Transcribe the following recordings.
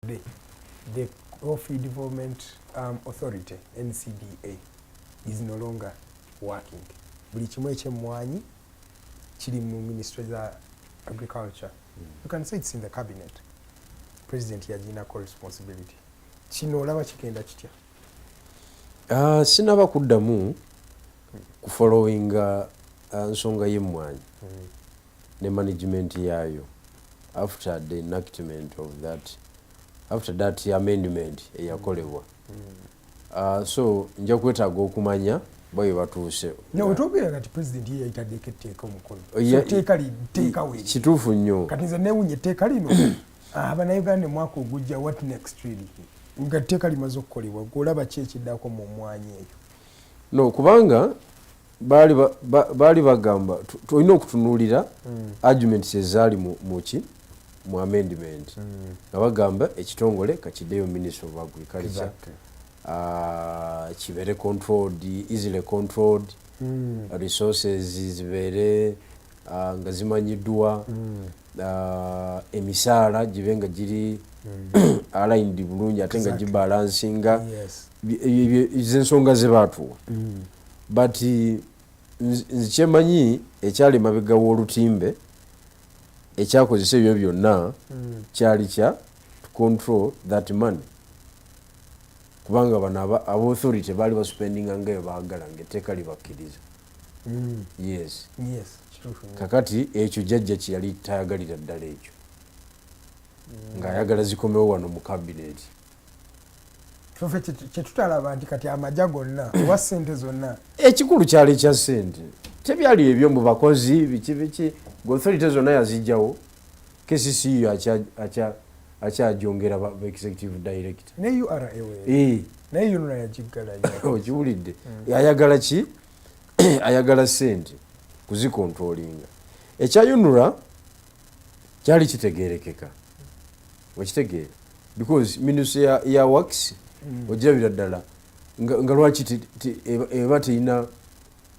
the, the Coffee Development um, Authority NCDA is no longer working. Buli kimu eky'emmwanyi kiri mu ministry za agriculture. Mm. You can say it's in the cabinet. President yaginako responsibility. Kino olaba kigenda kitya? Uh, sinaba kuddamu kufollowinga uh, nsonga y'emmwanyi. Mm. ne management yaayo after the enactment of that after that amendment eyakolebwa mm. uh, so nja kwetaaga okumanya bayo batuuse newetogera kati president ye yayitadeko etteeka omukono etteeka liteeka we kituufu nnyo kati nze newunya etteeka lino ah, banauganda omwaka ogujja what next really nga etteeka limaze okukolebwa golaba ki ekiddako mu mwanya eyo no kubanga baali ba, ba, baali bagamba tulina okutunuulira mm. arguments ezaali muki mu amendment mm. nga mm. bagamba ekitongole kakiddeyo ministry of agriculture exactly. uh, kibeere controlled easily controlled mm. resources zibeere uh, nga zimanyiddwa mm. uh, emisaala gibe nga giri mm. aligned bulungi ate nga exactly. gibalansinga yes. zensonga zebaatuwa mm. but nzikyemanyi ekyali emabega w'olutimbe ekyakozesa ebyo byonna hmm. kyali kya to control that money kubanga bano abauthority baali baspendinga ngayo baagala nga etteeka libakkiriza hmm. yes kakati ekyo jajja kyeyali tayagalira ddala ekyo hmm. ng'ayagala zikomewo wano mu kabineti tufe kyetutalaba nti kati amaja gonna oba sente zonna ekikulu kyali kya sente tebyali ebyo mu bakozi biki biki gothorite zonna yazijjawo kccu akyajongera executive director ne ura eh. naye yonna yagiggalayo okiwulidde hmm. ayagala ki ayagala sente kuzikontrolinga ekya unura kyali kitegerekeka okitegeera because minus ya, ya wax mm. ogirabira ddala nga, nga lwaki eba terina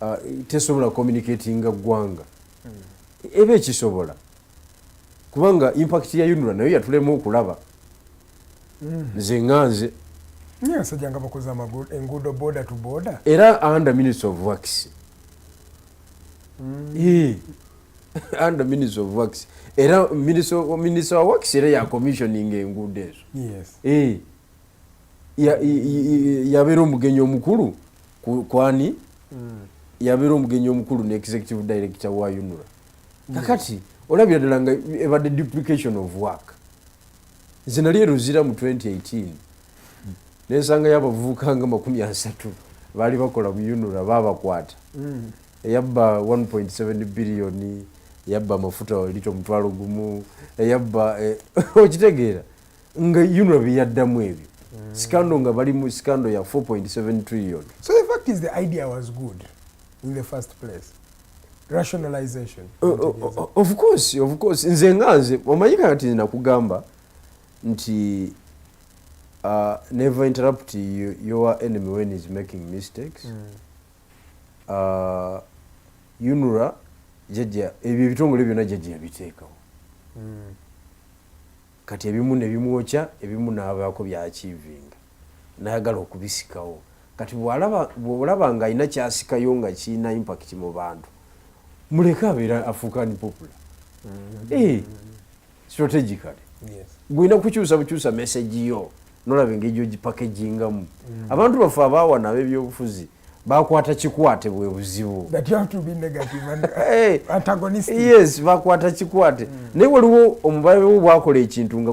uh, tesobola communicatinga ggwanga mm. eba ekisobola kubanga impact ya unura nayo yatulemu okulaba mm. nze mm. nga nze nsajja nga bakoze enguudo boda to boda era under minutes of wax mm. yeah. under minister of works era minister wa works era ya commissioning enguudo ezo eh. yabeera omugenyi omukulu kwani hmm. yabeera omugenyi omukulu ne executive director wa unura hmm. kakati olabira ddala nga ebadde duplication of work nze nali eruzira mu 2018 nensangayo abavubuka nga makumi asatu baali bakola mu unura babakwata hmm. eyabba 1.7 biliyoni yabba amafuta walita omutwalo gumu eyabba eh, okitegeera nga yuno byeyaddamu ebyo mm. sikando nga bali mu sikando ya 4.7 trillion so the fact is the idea was good in the first place rationalization uh, uh, of course of course nze nga nze omanyika kati nze nakugamba nti uh, never interrupt your enemy when is making mistakes mm. Uh, unra jajja ebyo ebitongole byonna jajja yabiteekawo hmm. kati ebimu nebimwokya ebimu nabaako byakiivinga nayagala okubisikawo kati bwolaba nga alina kyasikayo nga kirina impact mu bantu muleke abeera afuuka ni popula hmm. eh. strategically gwina kukyusa bukyusa message yo nolaba engeri gyogipakejingamu mm. abantu baffe abaawa nabo ebyobufuzi bakwata kikwate bwe buzibu eh, yes bakwata kikwate mm. naye waliwo omubale wo bwakola ekintu nga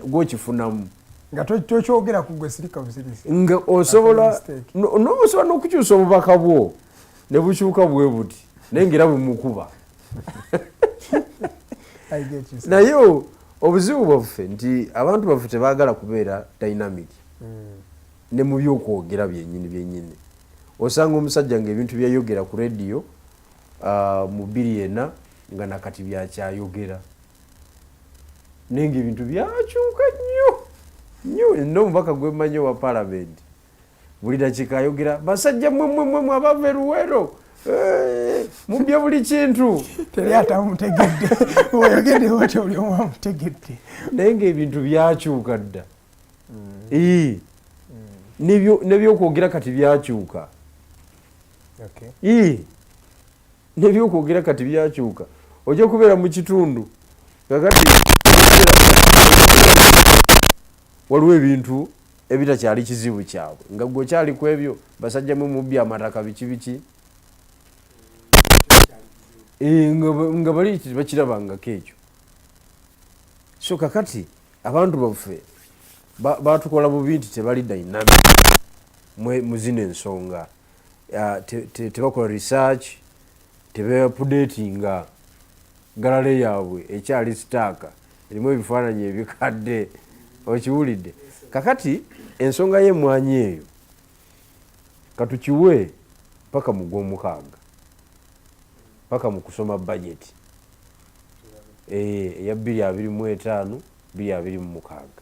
gwokifunamu nga tokyogera kugwe sirika busirisi nga osobola nobusobola nokukyusa obubaka bwo nebukyuka bwe buti naye ngaera bumukuba naye obuzibu bwaffe nti abantu baffe tebagala kubeera dynamic mm. ne mu byokwogera byenyini byenyini osanga omusajja nga ebintu byeyogera ku rediyo uh, mu bbiri ena nga nakati byakyayogera naye nga ebintu byakyuka nnyo nnyo nomubaka gwemanyi owa palamenti buli dakika ayogera basajja mwemwemwemu abava eruwero eh, mubye buli kintu teri atamutegedde oyogedde oti oli omu amutegedde naye ngaebintu byakyuka dda mm. nebyokwogera kati byakyuka nebyokwogera kati byakyuka ojja kubeera mu kitundu kakati waliwo ebintu ebitakyali kizibu kyabwe nga gwe okyali ku ebyo basajja mwe mubbi amataka biki biki eh, nga bali bakirabangako ekyo so kakati abantu baffe batukola bubi nti tebali dynamic muzina ensonga ah, tebakola research tebeapudetinga galale yaabwe ekyali sitaaka erimu ebifaananyi ebikadde okiwulidde kakati ensonga y'emwanyi eyo katukiwe paka mu gwomukaaga paka mu kusoma bajeti eh, eya bbiri abiri mu etaano bbiri abiri mu mukaaga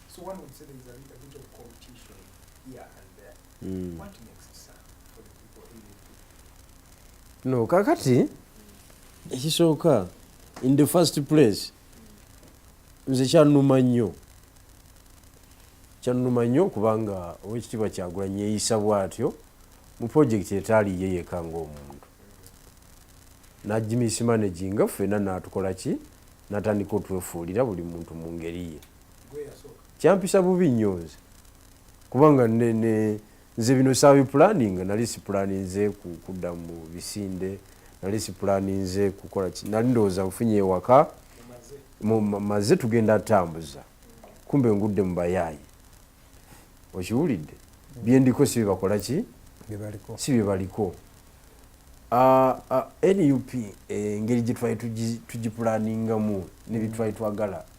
So one would say there is a little bit of competition here and there. Mm. What makes it sad for the people in the No, kakati ekisooka in the first place nze kyanuma nnyo kyanuma nnyo kubanga owekitiibwa kyagulanyi yeeyisa bwatyo mu purojekiti etaali ye yeka ngaomuntu najimisi managinga ffena natukola ki natandika otwefuulira buli muntu mu ngeri ye kyampisa bubi nnyo nze kubanga nze bino sabi planning nali si planinze kudda mu bisinde nali si planinze kukola ki nali ndowooza nfunye ewaka maze tugenda atambuza kumbe ngudde mu bayaayi okiwulidde byendiko si byebakola ki si byebaliko ah, ah, nup eh, engeri gyetwali tugipulaningamu nebitwali twagala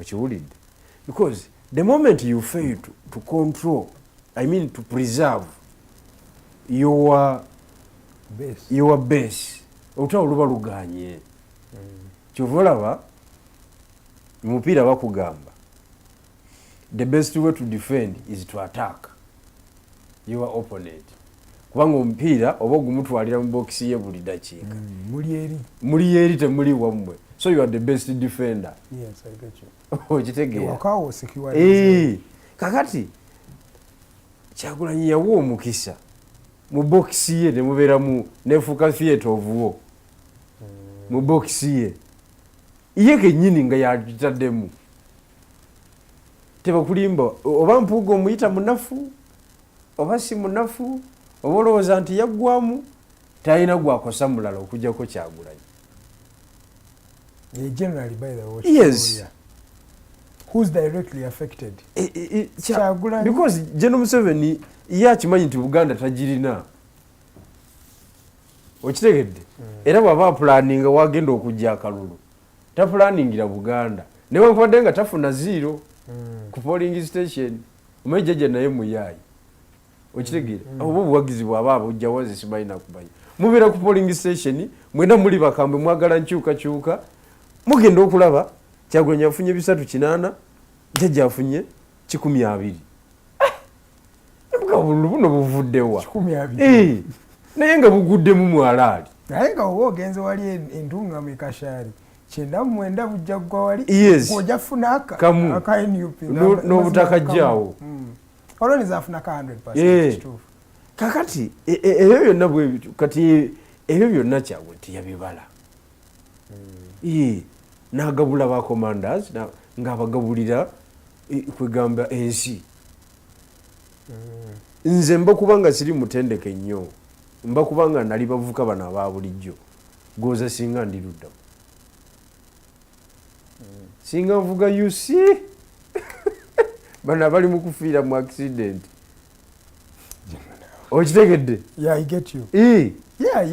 okiwulidde because the moment you fail to, to control i mean to preserve your base, your base. olutalo luba luganye mm. kyova olaba mupiira bakugamba the best way to defend is to attack your opponent kubanga omupiira oba ogumutwalira mu bokisi ye buli dakiika mm, muli yeri temuli wammwe so you are the best defender okitegeera eh, kakati kyagulanyi yawa omukisa mu bokisi ye nemubeeramu nefuuka theatre ovuwo mm. mu bokisi ye ye kenyini nga yakitaddemu tebakulimba oba mpuuga omuyita munafu oba si munafu oba olowooza nti yaggwamu talina gwakosa mulala okujjako kyagulanyi geno museveni ye akimanyi nti buganda tagirina okitegedde mm. era bwaba apulaninga wagenda okujja akalulu tapulaningira buganda newankubadde nga tafuna ziiro hmm. ku polling station omanyi jjajja naye muyaayi okitegeera hmm. oba obuwagizi bwaba abujjawo nze simanyi nakumanya mubeera ku polling station mwena muli bakambwe mwagala nkyukakyuka mugenda okulaba kyagulanya afunye bisatu kinaana jjajja afunye kikumi abiri obululu buno buvuddewa eh, naye nga buguddemu mwalaali naye nga oba ogenze wali entungamu ekashari kyenda mwenda bujja gwa wali oja funa akanuplnobutakajjaawo hmm. olwonizafuna ka 100 eh. kakati e, e, ebyo byonna bwebityo kati ebyo byonna kyagwe tiyabibala mm. nagabula ba commanders ngaabagabulira kwegamba ensi mm. nze mba kubanga siri mutendeke nnyo mba kubanga nali bavuka bano aba bulijjo goza singa ndiruddamu mm. singa nvuga uc bano abali mukufiira mu accident okitegedde yeah,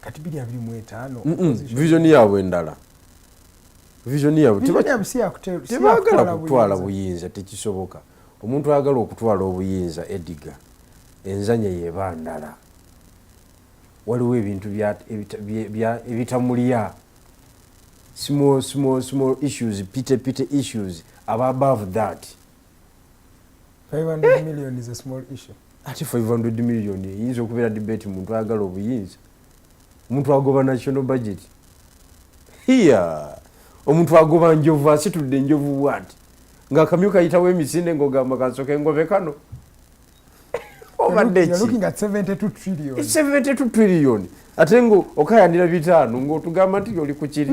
kati biri abiri mu etaano vision yaabwe endala vision yaabwe tebagala kutwala buyinza tekisoboka omuntu ayagala okutwala obuyinza ediga enzanya yeba ndala waliwo ebintu ebitamulya small small small issues pite pite issues aba above that 500 million is a small issue ate 500 million eyinza okubeera debate muntu ayagala obuyinza omuntu agoba national budget hiya omuntu agoba njovu asitudde enjovu bwati ngaakamyu kayitawo emisinde ngaogamba kasoka engobe kano obadde ki72 trillion ate nga okayanira bitaano ngaotugamba nti oli kukiri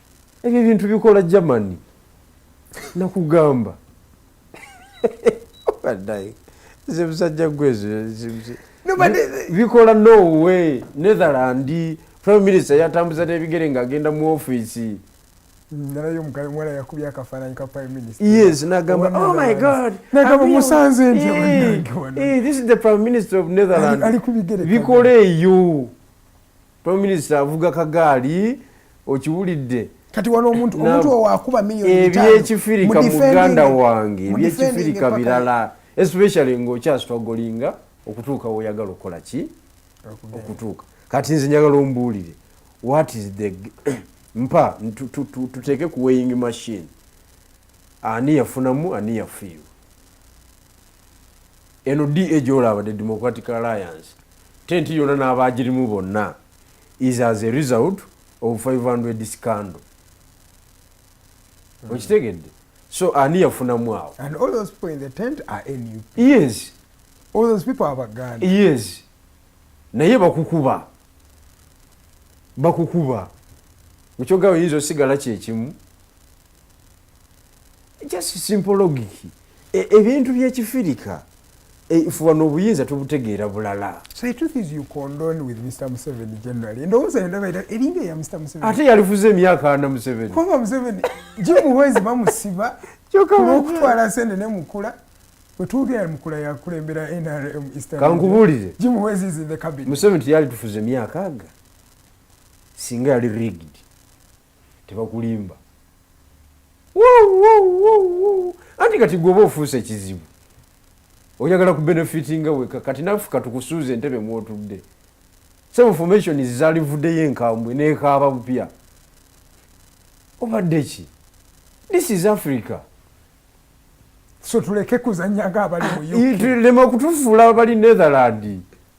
ebyo ebintu bikola germany nakugamba badaye nze musajja gwezo bikola norway netherland prime minister yatambuza nebigere nga agenda mu office nalayo mukale mwana yakubya akafananyi ka prime minister yes nagamba oh my god nagamba musanze nti eh, eh, this is the prime minister of netherland bikola eyo prime minister avuga kagaali okiwulidde kati wano omuntu omuntu owakuba milioni ttaano ebyekifirika muganda wange ebyekifirika birala especially ng'okyasitwagolinga okutuuka woyagala okukola ki okutuuka kati nze njagala ombuulire what is the mpa tuteeke ku weighing machine ani yafunamu ani yafiirwa eno da gyolaba the democratic alliance tenti yona n'abagirimu bonna is as a result of 500 scandal hmm. okitegedde so ani yafunamu awo yes yes naye bakukuba bakukuba mukyogaba yinza osigala kyekimu just simple logic e, ebintu byekifirika e, fuba nobuyinza tubutegeera bulala ate yalifuza emyaka ana museveni jimuwezi bamusiba olwokutwala sente nemukula wetwogera mukula yakulembera nrm kankubuulire museveni teyalitufuza emyaka aga singa yali rigged tebakulimba anti kati gweoba ofuusa ekizibu oyagala ku benefiti nga weka kati nafuka tukusuuza entebe mwotudde some information zalivuddeyo enkambwe nekaaba bupya obadde ki this is africa so tuleke kuzanyaga abali mu ah, lema okutufuula abali netherland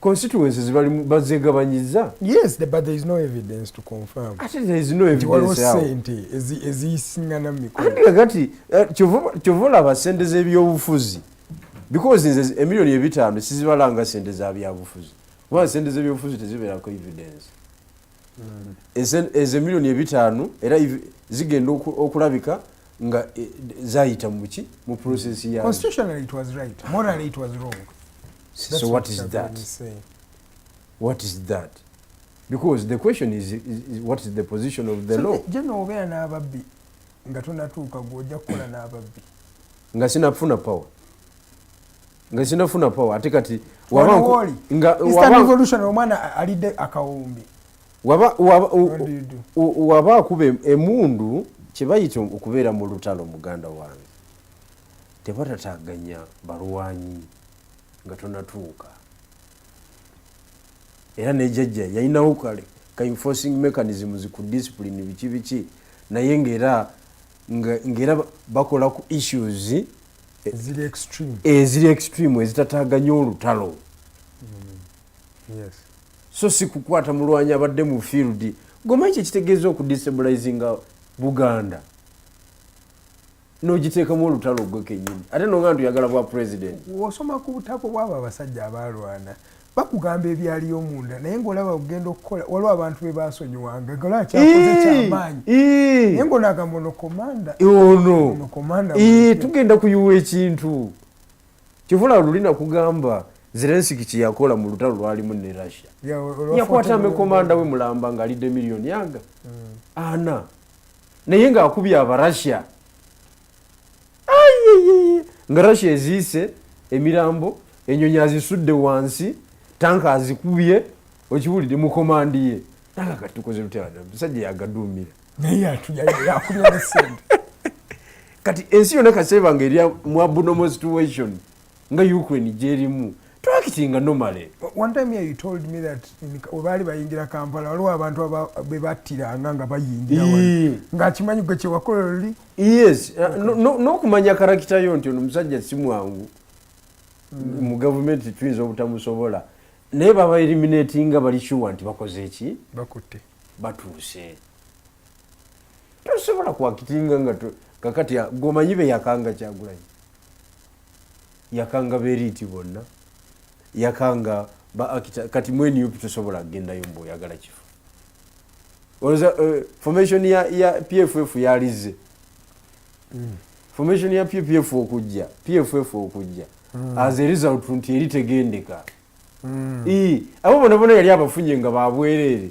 constituencies bazegabanyiza yes but there is no evidence to confirm ate there is no evidence yao sente eziyisingana mumikono andi kakati eh, kyova olaba sente z'ebyobufuzi because nze emiliyoni ebitaano sizibalanga sente za byabufuzi kubanga sente z'ebyobufuzi tezibeerako evidence hmm. ezo emiliyoni ebitaano era zigenda okulabika nga eh, zayita muki mu process ya constitutionally it was right morally it was wrong That's so what, what is that what is that because the question is, is, is what is the position of the so law jeno obeera n'ababbi nga tonatuuka gwe ojja kukola n'ababbi nga sinafuna power nga sinafuna power ate kati wabaevolution omwana alidde akawumbi waba akuba emundu kyebayita okubeera mu lutalo muganda wange tebatataganya balwanyi nga tonatuuka era ne jajja yalinawo kale ka enforcing mechanisms ku discipline biki biki naye ngaera ngaera bakola ku issues eh, eziri extreme ezitataganya olutalo mm. yes. so si kukwata mulwanyi abadde mu field gomanyi kyekitegeeza okudestabilizinga buganda nogiteekamu olutalo gwe kenyini ate nonga ntuyagala bwa president osoma ku butako bwabo abasajja abalwana bakugamba ebyaliyo munda naye ngaolaba ogenda okukola waliwo abantu be basonyiwanga ngaolaba kyakoze kyamaanyi naye ngaonagamba ono komanda ono komanda tugenda kuyiwa ekintu kivula luli nakugamba zelensiki kyeyakola mu lutalo lwalimu ne russia yakwata amekomanda we mulamba ngaalidde miliyoni yanga mm. ana naye nga akubye aba russia nga russia eziise emirambo enyonyi azisudde wansi tanka azikubye okiwulidde mukomandiye nanga kati tukoze lutyamusajja yagadumira kati ensi yona kasebanga erya mwabunomo situation nga ukraine gyerimu twakitinga nomale one time here you told me that webaali bayingira kampala waliwo abantu bebattiranga nga bayingira ngaakimanyi gwe kyewakola oli yes uh, n'okumanya karakita yo nti ono musajja si mwangu mm. mu gavumenti tuyinza obutamusobola naye baba eliminatinga bali shuwa nti bakoze eki bakutte batuuse tosobola kwakitinga nga kakati gomanyi beyakanga kyagulanyi yakanga beriiti bonna yakanga baakita kati mwenup tosobola kugendayo mbu oyagala kifo oza uh, eh, formation ya, ya pff yalizze mm. formation ya pff okujja pff okujja mm. as a result nti eri tegendeka mm. abo bona bona yali abafunye nga babwereere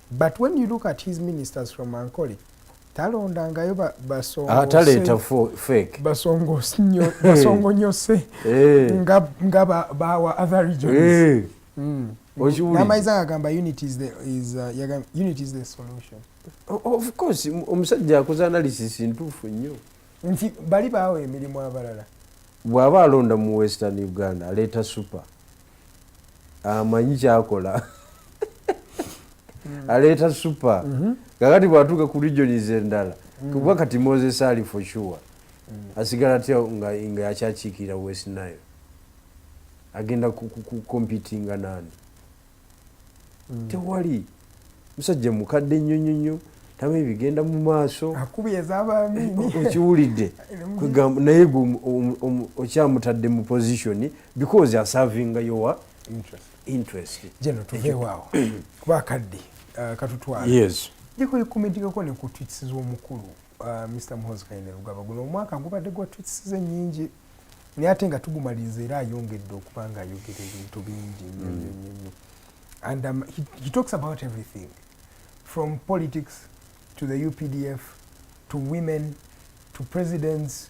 but when you look at his ministers from ankole talondangayo basongoataleeta ah, fake basongonyose eh. eh. nga bawa other regions eh. mm. namaiza agamba uh, unit is the solution of course omusajja akoze analysis ntuufu nnyo nti bali baawa emirimu abalala bw'aba alonda mu western uganda aleeta super amanyi kyakola mm. aleeta supa mm-hmm. kakati bwatuuka ku regions endala mm. kuba kati moses ali for sure mm. asigala tya nga yakyakiikirira west nile agenda kukompitinga nani tewali musajja mukadde nnyo nnyo nnyo tamanyi bigenda mu maaso okiwulidde kwegamba naye gwe okyamutadde mu position because asavinga yowa interest geno tuveewaawo kuba akadde uh, katutwala yes jekuli kumitikako ne ku twits z'omukulu Uh, Mr. Muhozi Kayine Lugaba guno omwaka gubadde gwa tweets ze nyingi naye ate nga tugumaliriza era ayongedde okuba nga ayogera ebintu bingi nnyo nnyo mm. nnyo nnyo and um, he, he talks about everything from politics to the UPDF to women to presidents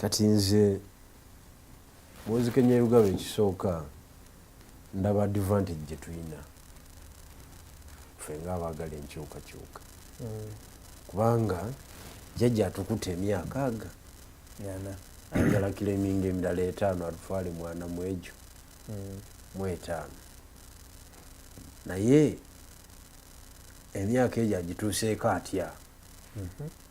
kati nze munzikenya erugaba ekisooka ndaba advantage gyetulina fe nga abaagala enkyukakyuka mm. kubanga jajja atukuta emyaka aga ayagala kileminga emirala etaano atutwale mwana mwegyo mm. mwetaano naye emyaka egyo agituuseeko atya mm-hmm.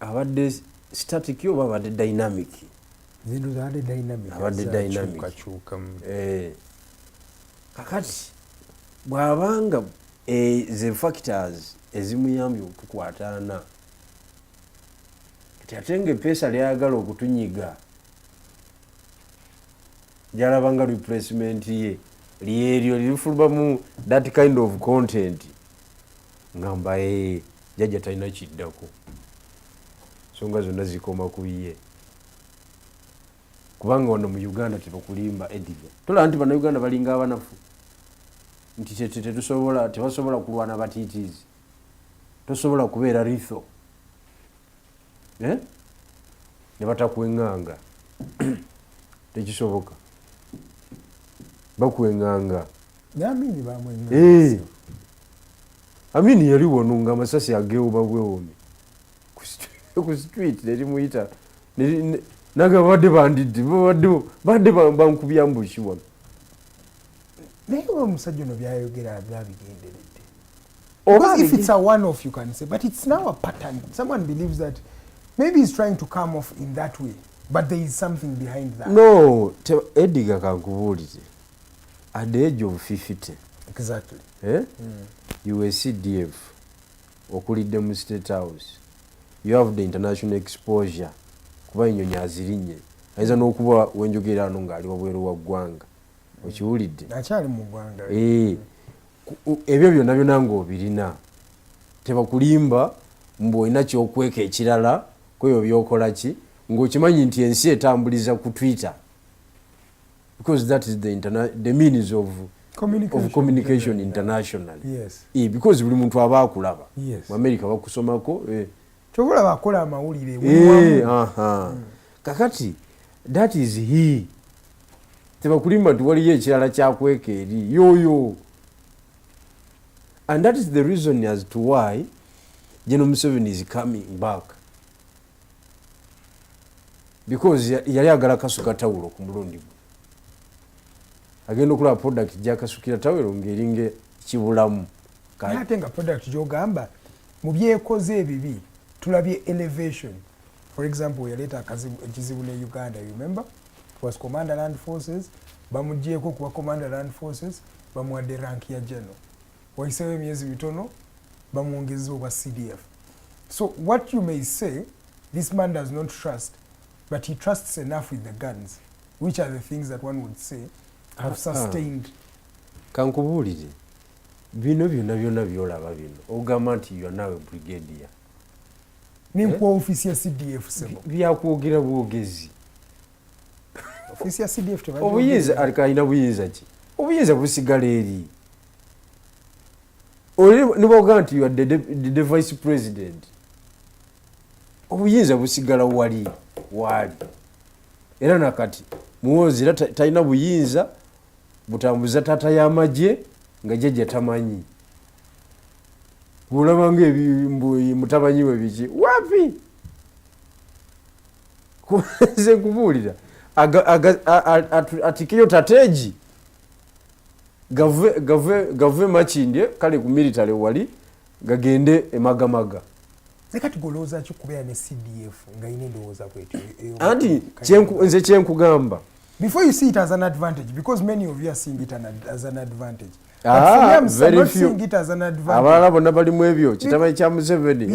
abadde static oba abadde dynamic zino zabadde dynamic abadde dynamic eh. kakati bwabanga eh, ze factors ezimuyambye okutukwataana kati ate nga epeesa lyayagala okutunyiga gyalabanga replacement ye lyeryo lirifulumamu that kind of content ngamba ee jajja talina kiddako songa zonna zikoma ku ye kubanga wano mu uganda tebakulimba ediga tolaba nti banauganda balinga abanafu nti tetusobola tebasobola kulwana batitiizi tosobola kubeera ritho eh? ne batakwenganga tekisoboka bakwenganga naamini bamwenganga eh. Amin yali wano nga amasasi ageewuba bwewumi ku street nerimuyita nange babadde bandidde babadde bankubya mbuki wano naye oba omusajja ono byayogera byabigenderedde oba if it's a one off you can say but it's now a pattern someone believes that maybe he's trying to come off in that way but there is something behind that no ediga kankubuulize at the age of 50 exactly. eh? mm. you were cdf okulidde mu state house you have the international exposure kuba enyonyi azirinye ayinza n'okuba wenjogera ano ng'ali wabweru wa ggwanga okiwulidde akyali mu ggwanga eh, ebyo byonna byona ng'obirina tebakulimba mbu olina kyokweka ekirala kweyo byokola ki ng'okimanyi nti ensi etambuliza ku twitter because that is the, the means of communication, of communication internationally yes. e, because buli muntu aba akulaba yes. mu america bakusomako e. Eh. kyovolaba akola amawulire e, aha. Mm. kakati that is he tebakulimba nti waliyo ekirala kyakweka eri yoyo and that is the reason as to why general museveni is coming back because yali agala kasuka tawulo ku mulundi gwe agenda okulaba product jakasukira tawulo ngaeringa kibulamu ate nga product gyogamba mu byekoze ebibi tulabye elevation for example yaleeta ekizibu ne uganda you remember was commander land forces bamugyeko kuba commander land forces bamuwadde rank ya general wayiseewo emyezi mitono bamwongezza obwa cdf so what you may say this man does not trust but he trusts enough with the guns which are the things that one would say have ah, ah. sustained kankubuulire bino byona byona byolaba bino ogamba nti yo nawe brigadier nenkuwa eh? ofisi ya cdf sebo byakwogera bwogezi ofisi ya cdf obuyinza alina buyinza ki obuyinza busigala eri niboga nti the, the, the vice president obuyinza busigala wali waali era nakati muwoozi era talina buyinza butambuza taata y'amagye nga jajja tamanyi olabanga mutabanyi we biki wapi nze nkubuulira atikeyo tateegi gave gave gave makindye kale ku military wali gagende emagamaga anti nze kyenkugamba before you see it as an advantage because many of you are seeing it as an advantage ah, abalala bonna bali mu ebyo kitamanyi kya museveni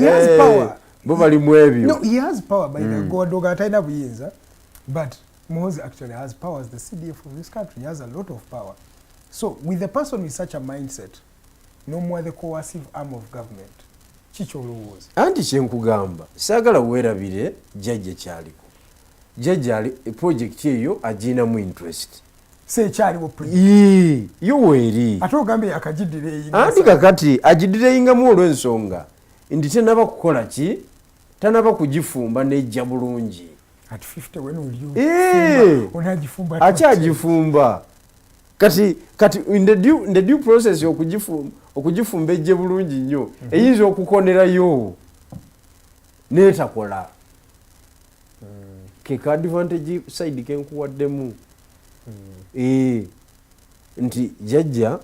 bo bali mu ebyo hmm. atalina buyinza but Mohozi actually has power as the CDF of this country. He has a lot of power. So with a person with such a mindset, no more the coercive arm of government. Chicho Lowos. Anti chenkugamba, sagala wera bile, jaje chali. Jaje ali, project ye yo, ajina mu interest. Se chali wo project. Yee, yo weri. Ato gambi ya kajidire inga. Anti kakati, ajidire inga mwolo nsonga. Indite naba kukola chi, tanaba kugifumba nejja bulungi eh! akyagifumba kati kati the due process okugifumba ejje bulungi nnyo mhm. eyinza okukonerayo netakola mm. keka advantage side kenkuwaddemu mm. eh, nti jajja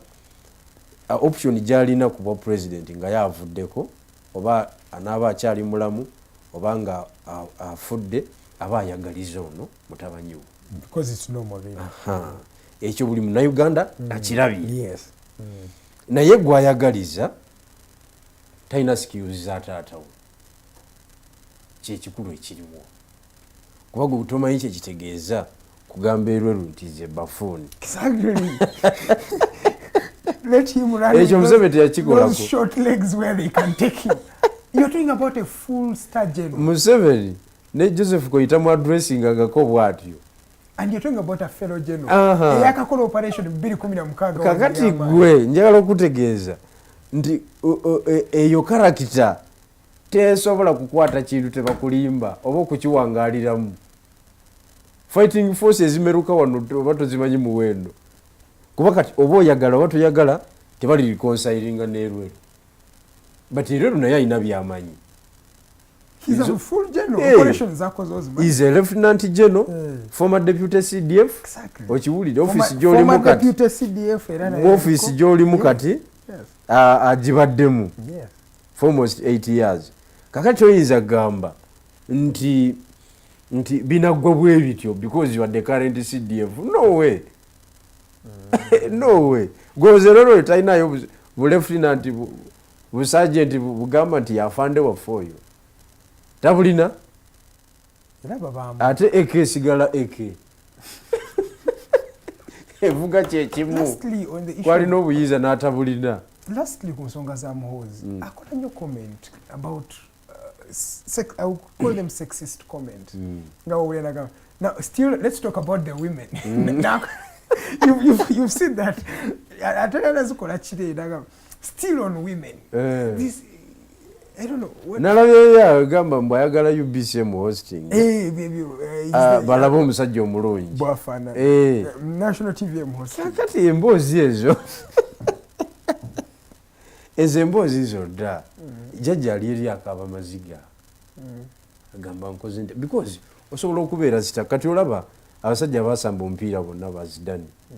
option gyalina kubwa president nga yavuddeko oba anaaba akyali mulamu oba nga afudde aba ayagaliza ono mutabanyi wo ekyo buli munauganda mm. akirabye mm. naye gwayagaliza talina sikiyuzi za taatawo kyekikulu ekiriwo kuba gwe butomanyi kyekitegeeza kugamba erweru nti ze bafuuni ekyo museveni teyakikolmuseveni ne joseph koyita mu adressinga ngako bwatyo kakati gwe njagala okutegeeza nti e, eyo karakita tesobola kukwata kintu tebakulimba oba okukiwangaliramu fighting force ezimeruka wano oba tozimanyi muwendo kuba kati oba oyagala oba toyagala tebali reconsilinga nerwe but era lunaye alina byamanyi is a full general hey. operations zako zozi man is a lieutenant general hey. former deputy cdf exactly okiwulide office joli mukati former deputy cdf era na office joli mukati yes ajibaddemu uh, yes for almost 8 years kakati oyinza kugamba nti nti binaggwa bwe bityo because you are the current cdf no way mm. no way gozelolo talinayo bulefutinanti busajenti bugamba nti yafande waffe oyo tabulina ate eke esigala eke evuga kyekimu kwalina obuyinza n'atabulina lastly ku nsonga za muhoozi mm. akola nnyo comment about uh, uh, call them sexist comment mm. nga wawulanagamba now still let's talk about the women mm. now you've, you've, you've seen that ate nazikola kireera still on women eh. this nalabyeyao egamba mbu ayagala ubcm hosting eh, eh, eh, ah, balabe omusajja omulungi kakati emboozi ezo ezo emboozi zo dda mm. jajja ali eri akaaba maziga mm. agamba nkoze nti because osobola okubeera zita kati olaba abasajja basamba omupiira bonna bazidani mm.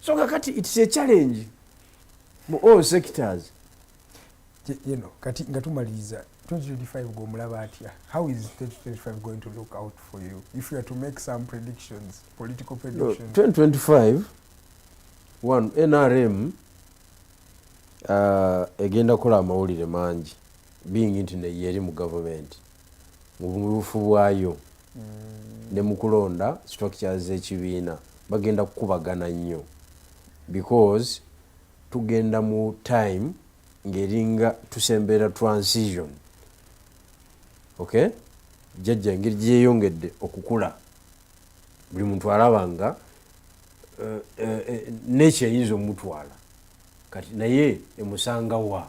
so kakati its a challenge mu all sectors you know, kati nga tumaliriza 2025 gwomulaba atya how is 2025 going to look out for you if you are to make some predictions political predictions no, 2025 one nrm uh, egenda kola amawulire mangi being nti neyeri mu government mu bumulufu bwayo ne mu kulonda structures z'ekibiina bagenda kukubagana nnyo because tugenda mu time ng'eringa tusembera transition okay jjajja engeri gyeyongedde okukula buli muntu alaba nga eh, eh, eh, nekyo eyinza omutwala kati naye emusanga wa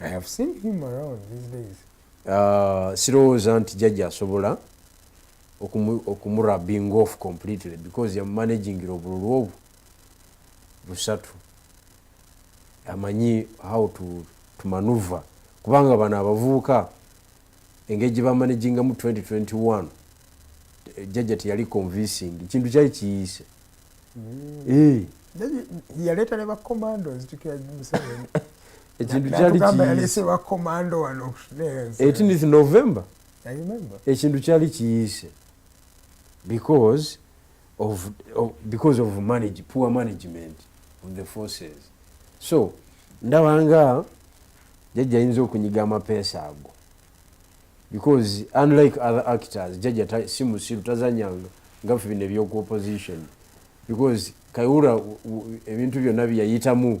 I have seen him around these days. Uh, sirowooza nti jajja asobola okumurabing off completely because yamumanagingira obululu obwo busatu amanyi how to, to manuva kubanga bano abavubuka engeri gye bamanagingamu 2021 jajja teyali convincing ekintu kyali kiyise mm. eh. yaleeta ne bacomandos ekintu kyali etinith november ekintu kyali kiyise because of, of, because of manage, poor management of the forces so ndaba nga jajja ayinza okunyiga amapeesa ago because unlike other actors jajja si musiru tazanyanga nga fe bino ebyoku opposition because kayura ebintu byonna byeyayitamu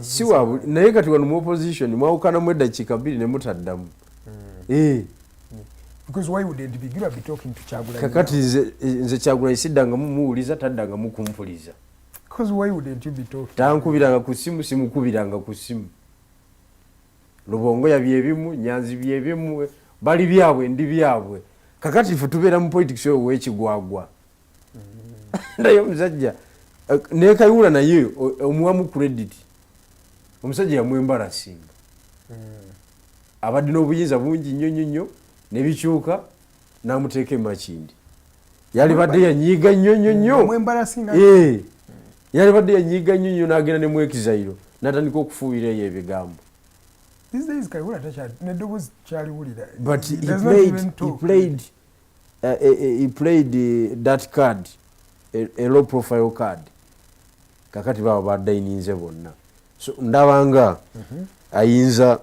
siwabu naye kati wano mu opposition mwawukanamu eddakiika bbiri ne mutaddamu hmm. eh. kakati nze kyagulanyi siddangamu muwuliza taddangamu kumpuliza tankubiranga ku simu simukubiranga ku simu lubongo yabyebimu nyanzi byebimu bali byabwe ndi byabwe kakati fe tubeera mu politics oyo wekigwagwa naye omusajja eh, nekayula naye omuwamu credit omusajja yamwembarasinga hmm. abadde n'obuyinza bungi nnyo nnyo nnyo nebikyuka namuteeka emakindi yalibadde yanyiiga nnyo nnyo nnyo eh. yalibadde yanyiiga nnyo nnyo nagenda ne mwekizairo natandika okufuuyira eyo ebigambo but he played, he played uh, he played eh, that card a low profile card kakati baba badayininze bonna so ndabanga mhm. ayinza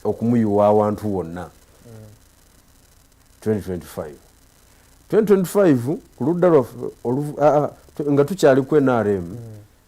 okumuyiwa awantu wonna 2025 2025 ku ludda lwaffe nga tukyali ku nrm mm.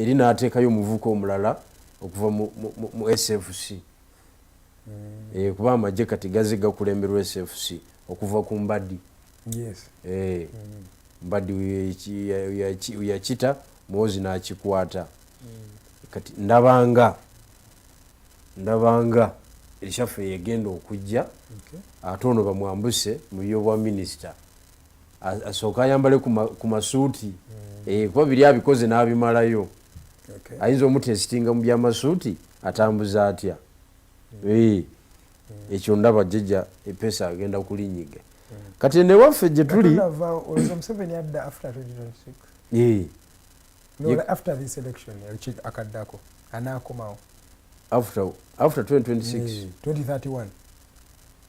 eri n'ateekayo omuvuka omulala okuva mu sfc hmm. eh, kuba amagye kati gaze gakulemberwa sfc okuva ku mbadi eh, hmm. mbadi yakita muwozi n'akikwata hmm. kati ndabanga ndabanga ekyaffe yegenda okujja ate ono bamwambuse mu byobwa minisita asooka ayambale ku masuuti hmm. eh, kuba biri abikoze n'abimalayo ayinza omutesitinga mu byamasuuti atambuza atya hmm. eh, hmm. ekyo ndaba jjajja epesa agenda kulinyiga kati enewaffe gye tuli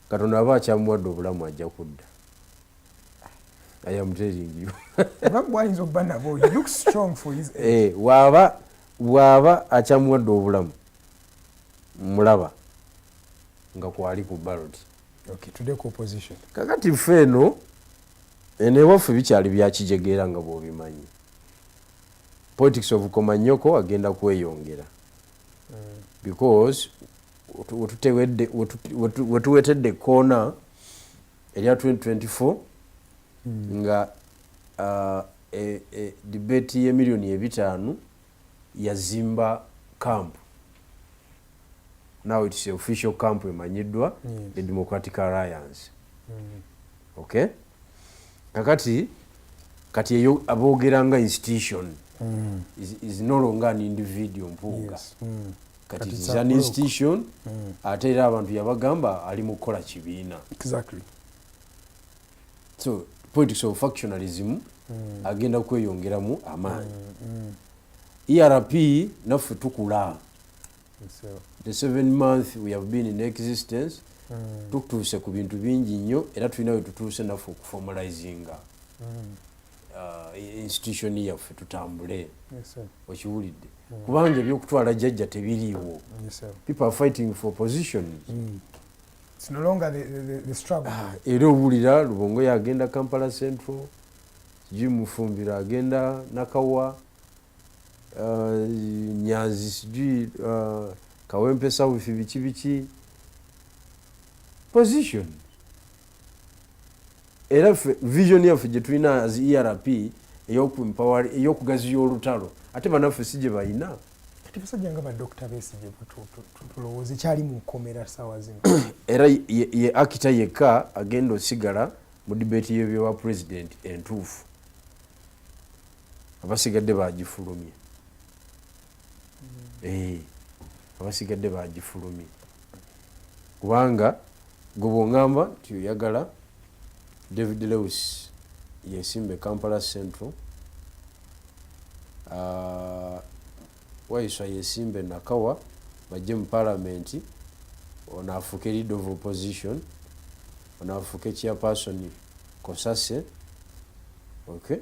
katonda aba akyamuwadde obulamu ajja kudda I am telling you. Bagwayinza okuba nabo. He looks strong for his age. Eh, waba waba achamuwadde obulamu. Mulaba nga kwali ku ballot. Okay, today ku opposition. Kakati ffe eno eno ewaffe bikyali byakijegeera nga bw'obimanyi. Politics of Komanyoko agenda kweyongera. Mm. Because wetutewedde wetuwetedde koona erya 2024 hmm. nga uh, e, e, debate ye miliyoni ebitaano yazimba camp now its official camp emanyiddwa the democratic alliance hmm. okay kakati kati eyo aboogera nga institution mm. is, is no longer an individual mpuuga yes. mm. kati is an institution mm. ate era abantu yabagamba ali mu kukola kibiina exactly. so politics of factionalism mm. agenda kweyongeramu amaanyi mm, mm. erp naffe tukula the seven month we have been in existence mm. tutuuse ku bintu bingi nnyo era tulina we tutuuse naffe okuformalizinga mm. uh, institution yaffe tutambule yes, okiwulidde kubanga ebyokutwala jajja tebiriiwo people are fighting for position mm. ah, era owulira lubongo yagenda kampala central sijui mufumbiro agenda nakawa ah, nyanzi sijui ah, kawempe south biki biki position era ffe vision yaffe gye tulina as erp eyokugaziya olutalo ate banaffe si gye balina kati basajja nga badokita besigye tulowooza ekyali mu nkomera saawa zino era ye akita yekka agenda osigala mu dibeeti yebyowa pulezidenti entuufu abasigadde bagifulumye eh, abasigadde bagifulumye kubanga gwe bwongamba nti oyagala david lewis yesimbe kampala central ah, waiswa yesimbe nakawa bajje mu palamenti ono afuuke lead of opposition ono afuuke chairperson kosase okay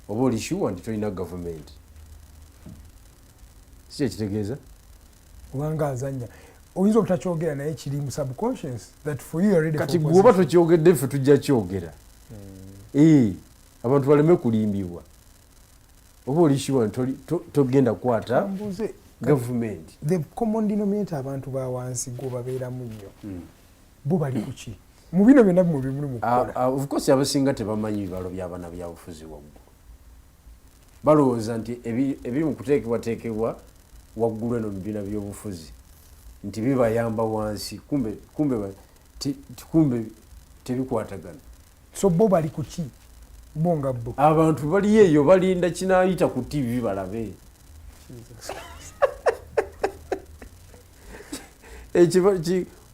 oba oli shuwa nti tolina gavumenti sikyekitegeeza obanga azanya oyinza obutakyogera naye kiri mu subconscious that for you already kati gwoba tokyogedde ffe tujja kyogera hmm. eh, abantu baleme kulimbibwa oba oli shuwa nti togenda kukwata gavumenti the common denominator abantu ba wansi gwobabeeramu nnyo hmm. bo bali kuki mu bino byonna bimwe bimuli mukukola ah, ah, of course abasinga tebamanyi bibalo byabana byabufuzi waggulu balowooza nti ebiri mu kuteekebwateekebwa waggulu eno mubibiina byobufuzi nti bibayamba wansi kumbe kumbe kumbe tebikwatagana so bo bali kuki bo nga bo abantu baliyo eyo balinda kinayita ku tv balabe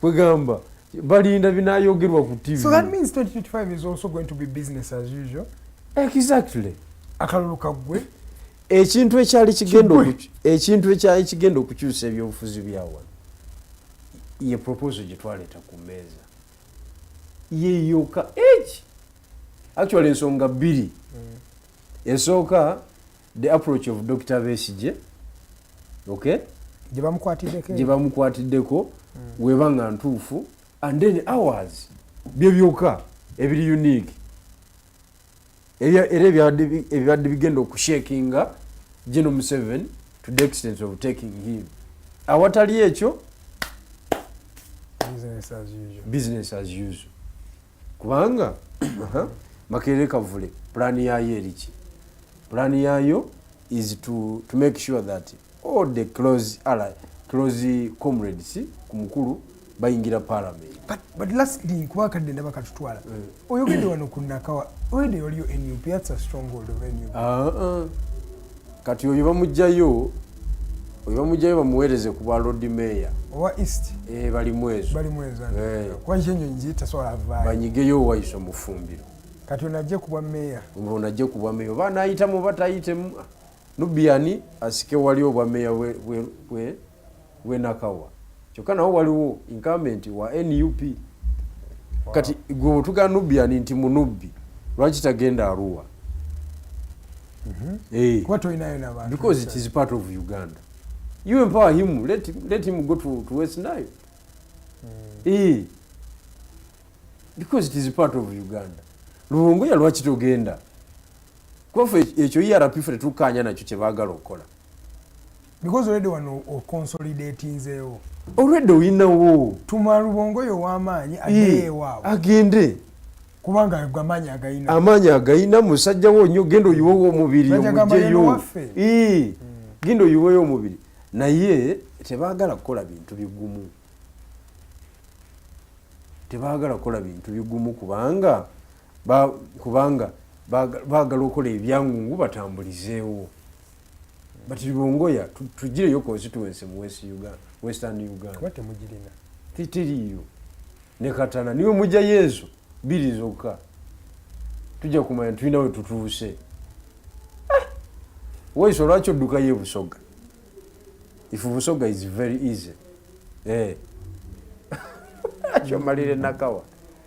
kwegamba balinda binayogerwa ku tv so that means 2025 is also going to be business as usual exactly akalulu kaggwe ekintu ekyali kigenda ekintu ekyali kigenda okukyusa ebyobufuzi byawano ye proposal gye twaleeta ku mmeeza yeyoka eki actually ensonga bbiri mm. esooka the approach of dr besigye okay gyebamukwatiddeko hmm. weba nga ntuufu and then hours bye byoka ebiri unique era ebibadde bigenda okushakinga geno museven to the extent of taking him awatali ekyo business as usual kubanga makerere kavule pulaani yaayo eriki pulaani yaayo is to, to make sure that all the close ally close comrades ku mukulu bayingira parliament but, but lastly kuba kadde ndaba katutwala mm. oyogedde wano ku nakawa oyogedde waliyo nup that's a stronghold of nup uh ah, -uh. Ah. kati oyo bamugjayo oyo bamugjayo bamuweereze ku bwa lord mayor owa east eh, bali mwezo bali mwezo eh. kuba nyo enyonyi zitasobola avaayo banyigeyo owaiso mufumbiro kati ono ajje ku bwa meeya ono ajje ku bwa meeya oba anayitamu oba tayitemu nubiani asike wali obwa meeya bwe we nakawa kyokka nawo waliwo incumbent wa nup kati gwe otuga nubian nti munubbi lwaki tagenda aruwa mhm. eh. because it is part of uganda you empower him let, let him go to, to west nile mm. eh. because it is part of uganda luwongoya lwaki togenda kwafe ekyo erp fe tetukkaanya nakyo kye baagala okukola because already wano okonsolidatinzeewo olwedde oyinawo tuma lubongoyo ow'amaanyi agende ewaabwe agende kubanga amaanyi agalina amaanyi agalina musajja wo nnyo genda oyiwewo omubiri omujeyo hmm. genda oyiweyo omubiri naye tebaagala kukola bintu bigumu tebaagala kukola bintu bigumu kubanga kubanga baagala okukola ebyangungu batambulizeewo but libongoya tugireyo constituency mu west uganda western uganda kuba temugirina titiriyo ne katana niwe mujja yezu biri zokka tujja kumanya tulina we tutuuse ah! waiso olwaki oddukayo ebusoga if busoga is very easy eh. kyomalire nakawa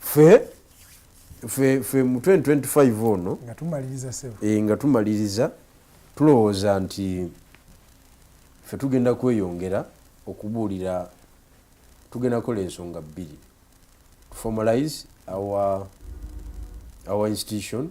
fe fe fe mu 2025 ono nga tumaliriza sebo e, nga tumaliriza tulowooza nti fe tugenda kweyongera okubuulira tugenda kola ensonga bbiri formalize our our institution